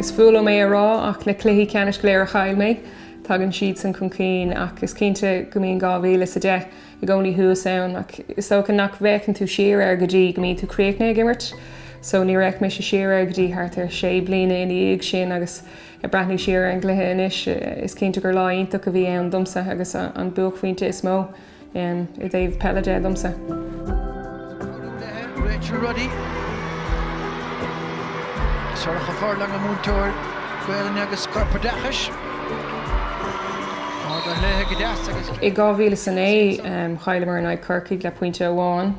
Is fuath liom é a rá ach na cluichí ceannais go léir a chaill mé, tagann siadsan chun cinn ach is cinnte go mbíonn 2010 i gcónaí thuas ann ach is dócha nach bhféachann tú siar air go dtí go mbíonn tú críochnaithe ag imirt so níor fhéach mise siar air go dtí thart ar sé bliana ina dhiaidh sin agus ag breathnú siar ar an gcluiche anois, is cinnte gur lá iontach a bhí ann domsa agus an buaicphointe is mó i dtaobh peile de domsa. Comhairleoir Rachel Ruddy, Sorcha Furlong, a múinteoir Gaelainne agus Corpoideachais, Ard an lae go deas agus. I 2009, chailleamar in aghaidh Corcaigh le pointe amháin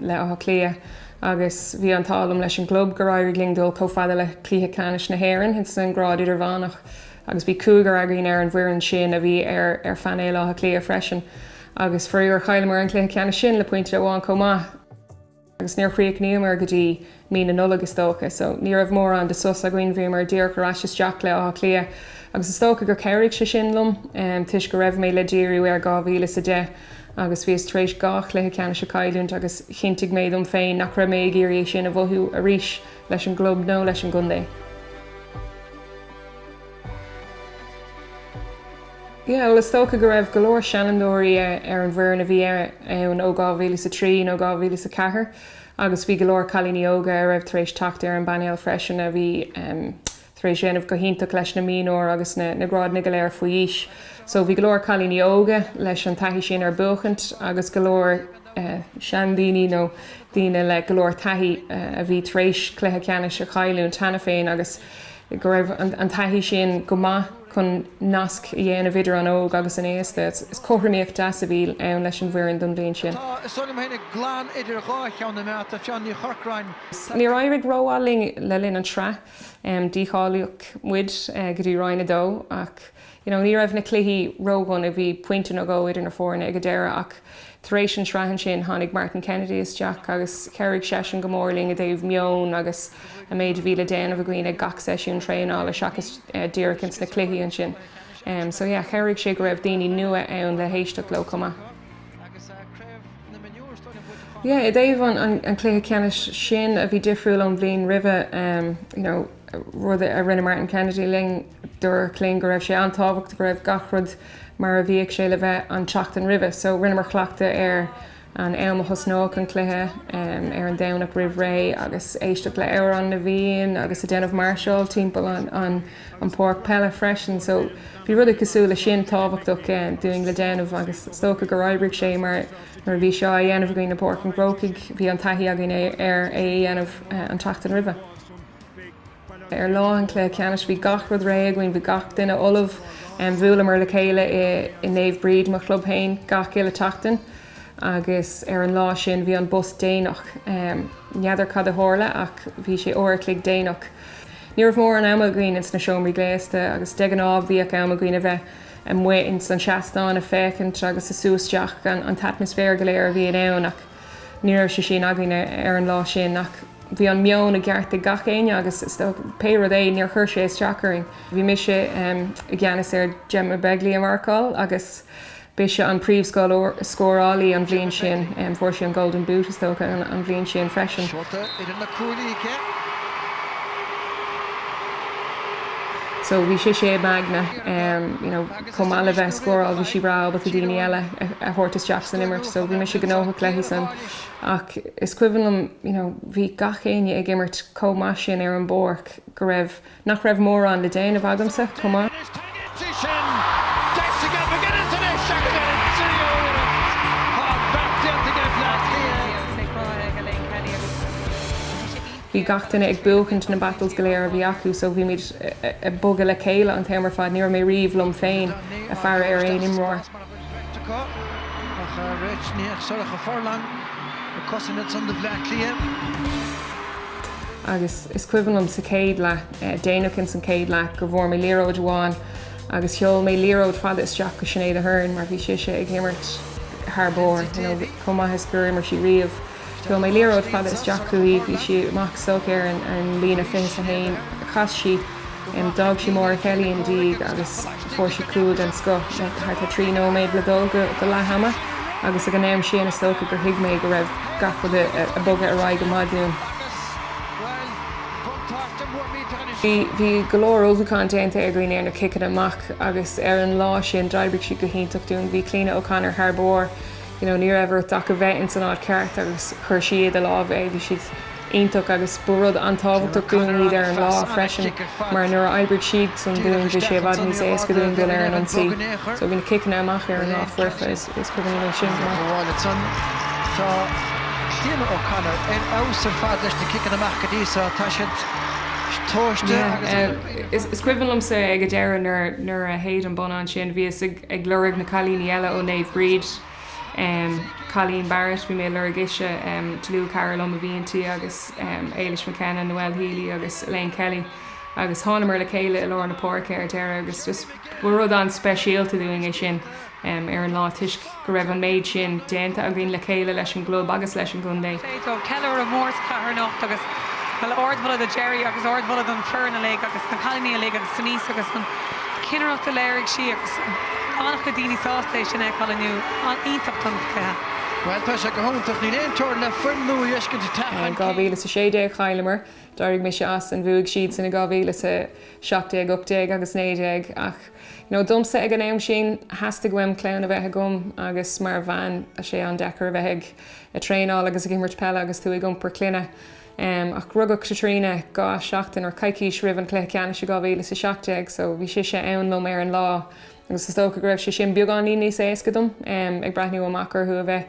le Áth Cliath Agus bhí an t-ádh liom leis an gclub gur éirigh linn dul chomh fada le Cluiche Ceannais na hÉireann sa ngrád idirmheánach agus bhí cúigear againn ar an bhfoireann sin a bhí ar ar phainéal Átha Cliath freisin agus faraor chailleamar an cluiche ceannais sin le pointe amháin chomh maith agus níor chríochnaíomar go dtí mí na Nollag is dócha so ní raibh mórán de sos againn, bhíomar díreach ar ais isteach le Átha Cliath agus is dócha gur chabhraigh sé sin liom toisc go raibh mé le díriú ar 2010 Agus bhíos tar éis dhá chluiche ceannais a chailliúint agus chinntigh mé dom féin nach raibh mé ag iarraidh é sin a mhothú arís leis an gclub nó leis an gcontae. Bhuel, is dócha go raibh go leor seanfhondúirí ar an bhfoireann a bhí ann ó 2003 nó 2004 agus bhí go leor cailíní óga a raibh tar éis teacht ar an bpainéal freisin a bhí, tar éis déanamh go hiontach leis na mionúir agus na grádanna go léir faoi aois. So bhí go leor cailíní óga leis an taithí sin ar buachaint agus go leor eh seandaoine nó daoine le go leor taithí eh a bhí tar éis cluiche ceannais a chailliúint cheana féin agus go raibh an an taithí sin go maith chun nasc a dhéanamh idir an óg agus an aosta. Is cothromaíocht deas a bhí ann leis an bhfoireann don bhliain sin. Tá is agam féin ag glan idir dhá cheann na mbearta, Fiona Ní Chorcráin Níor éirigh rómhaith linn le linn an tsraith. Dícháilíodh muid go dtí Roinn 2 ach you know ní raibh na cluichí ródhona, bhí pointe nó dhó idir na foirne ag an deireadh ach tar éis an tsraith ansin tháinig Martin Kennedy isteach agus chabhraigh seisean go mór linn i dtaobh meon agus an méid a bhí le déanamh againn ag gach seisiún traenála seachas díreach ins na cluichí ansin. So yeah chabhraigh sé go raibh daoine nua ann le héisteacht leo chomh maith. Yeah, i dtaobh an chluiche ceannais sin a bhí difriúil ón bhliain roimhe, you know, rud a rinne Martin Kennedy linn, dúirt sé linn go raibh sé an-tábhachtach go raibh gach rud mar a bhíodh sé le bheith an tseachtain roimhe. So, rinneamar cleachtadh ar an am a thosnódh an cluiche, ar an Domhnach roimh ré, agus éisteacht le Amhrán na bhFiann agus ag déanamh máirseáil timpeall an. an páirc peile freisin so bhí rud cosúil le sin tábhachtach dúinn le déanamh agus is dócha gur oibrigh sé mar nuair a bhí seo á dhéanamh againn i bPáirc an Chrócaigh bhí an taithí againn ar é a dhéanamh an tseachtain roimhe. Ar lá an cluiche ceannais bhí gach rud réidh againn, bhí gach duine ullamh. Bhuaileamar le chéile i Naomh Bríd, mo chlub féin, gach uile tseachtain. Agus ar an lá sin, bhí an bus déanach. N'fheadar cad a tharla ach bhí sé uair an chloig déanach. Ní raibh mórán ama againn ins na seomraí gléasta agus de ghnáth bhíodh am againn a bheith amuigh ins an seastán ag féachaint agus ag sú isteach an t-atmaisféar go léir a bhíonn ann ach ní raibh sé sin againn ar an lá sin. Ach bhí an meon i gceart ag gach éinne agus pé rud é, níor chuir sé isteach orainn. Bhí mise i gceannas ar Gemma Begley a mharcáil agus B'ise an príomhscórálaí an bhliain sin. Fuair sí an Golden Boot, is dócha, an bhliain sin freisin. So bhí sise i m'aigne, you know, chomh maith le bheith ag scóráil, bhí sí breá ábalta daoine eile a thabhairt isteach san imirt. So bhí mise gnóthach léi san. Ach is cuimhin liom, you know, bhí gach éinne ag imirt chomh maith sin ar an bpáirc go raibh, nach raibh mórán le déanamh agamsa chomh maith. Bhí gach duine ag buachaint na battles go léir a bhí acu so bhímid ag bogadh le chéile an t-am ar fad. Ní raibh mé riamh liom féin ag faire ar aon imreoir. Agus is cuimhin liom sa chéad leath, déanach ins an chéad leath, go bhfuair mé liathróid amháin agus sheol mé liathróid fada isteach go Sinéad Ahern mar bhí sise ag imirt thar barr, you know, chomh maith is gur imir sí riamh. Sheol mé liathróid fada isteach chuici, bhí sí amach, socair ar an líne fiche is a haon, chas sí, d'fhág sí Máire Kelly ina diaidh agus fuair sí cúl den scoth le thart ar trí nóiméad le dul go leath ama agus ag an am sin is dócha gur thuig mé go raibh gach rud ag bogadh ar aghaidh go maith dúinn. Bhí go leor ullmhúcháin déanta againn ar na ciceanna amach agus ar an lá sin d'oibrigh siad go hiontach dúinn. Bhí Cliona O'Connor thar barr. you know ní raibh ort ach a bheith ins an áit cheart agus chuir sí i do lámh é, bhí siad iontach agus ba rud an-tábhachtach dúinn iad ar an lá freisin mar nuair a oibrigh siadsan dúinn bhí sé i bhfad níos éasca dúinn dul ar an ionsaí so bhí na ciceanna amach ar an lá foirfe, is cuimhin liom é sin go maith. Tá Cliona O'Connor ar fheabhas ar fad leis na ciceanna amach go dtí seo, tá siad tomhaiste agus. Yeah, is cuimhin liomsa ag an deireadh nuair a shéid an bonnán sin, bhíos ag. ag lorg na cailíní eile ó Naomh Bríd, Colleen Barrett, bhí mé ag lorg ise, Tolua Carroll ar mo bhinn tí agus Ailish McKenna, Noelle Healy agus Elaine Kelly agus thánamar le chéile i lár na páirce ar deireadh agus just rud an-speisialta dúinn é sin ar an lá toisc go raibh an méid sin déanta againn le chéile leis an gclub agus leis an gcontae. Ceiliúradh mór sa chathair anocht agus, bhuel, ardmholadh do Gerry agus ardmholadh don foireann uilig agus na cailíní uilig agus Denise agus an. cinnireacht a léirigh sí agus an-chuid daoine sásta é sin a fheiceáil inniu. an-iontach don chluiche. Bhuel, tá sé go hiontach. Níl aon teorainn le foirm nuair is acu atá taithí. In 2016 chailleamar, d'éirigh mise as and bhuaigh siadsan in 2017, 18 agus 19 ach you know domsa ag an am sin theastaigh uaim clann a bheith agam agus mar bhean tá sé an-deacair a bheith ag traenáil agus ag imirt peile agus tú ag iompar clainne. Ach rugadh Caitríona dhá sheachtain, or coicís, roimh an cluiche ceannais i 2017, so bhí sise ann liom ar an lá agus is dócha go raibh sé sin beagáinín níos éasca dom, ag breathnú amach orthu a bheith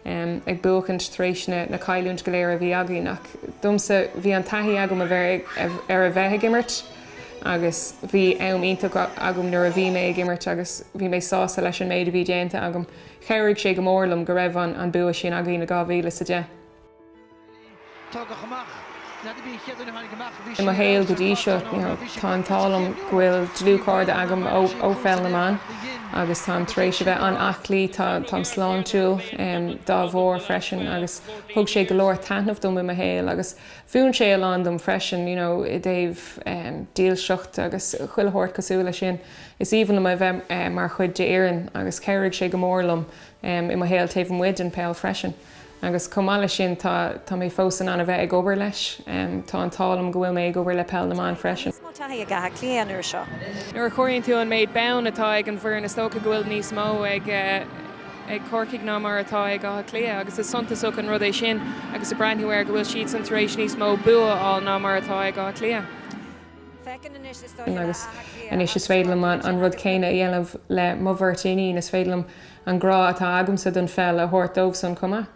ag buachaint tar éis na cailliúint go léir a bhí againn. Ach domsa, bhí an taithí agam ar a bheith ag imirt agus bhí am iontach agam nuair a bhí mé ag imirt agus bhí mé sásta leis an méid a bhí déanta agam. Chabhraigh sé go mór liom go raibh an bua sin againn i 2010. I mo shaol go dtí seo, you know, tá an t-ádh liom go bhfuil dlúthchairde agam ó Pheil na mBan agus táim tar éis a bheith an-aclaí, tá, táim sláintiúil, em, dá bharr freisin agus thug sé go leor taitneamh dom i mo shaol agus mhúin sé a lán dom freisin, you know, i dtaobh, em, dílseacht agus chuile shórt cosúil leis sin. Is aoibhinn liom a bheith, eh, mar chuid d'fhoireann agus chabhraigh sé go mór liom, em, i mo shaol taobh amuigh den pheil freisin. Agus chomh maith leis sin, tá, tá mé fós in ann a bheith ag obair leis. Tá an t-ádh liom go bhfuil mé ag obair le Peil na mBan freisin. Níos mó taithí ag Áth Cliath an uair seo. Nuair a chomhairíonn tú an méid bonn atá ag an bhfoireann is dócha go bhfuil níos mó ag, eh, ag Corcaigh ná mar atá ag Áth Cliath agus is suntasach an rud é sin agus ag breathnú air go bhfuil siadsan tar éis níos mó bua a fháil ná mar atá ag Áth Cliath. Agus anois is féidir liom an rud céanna a dhéanamh le mo bheirt iníon, is féidir liom An grá atá agamsa don pheil a thabhairt dóibhsan chomh maith.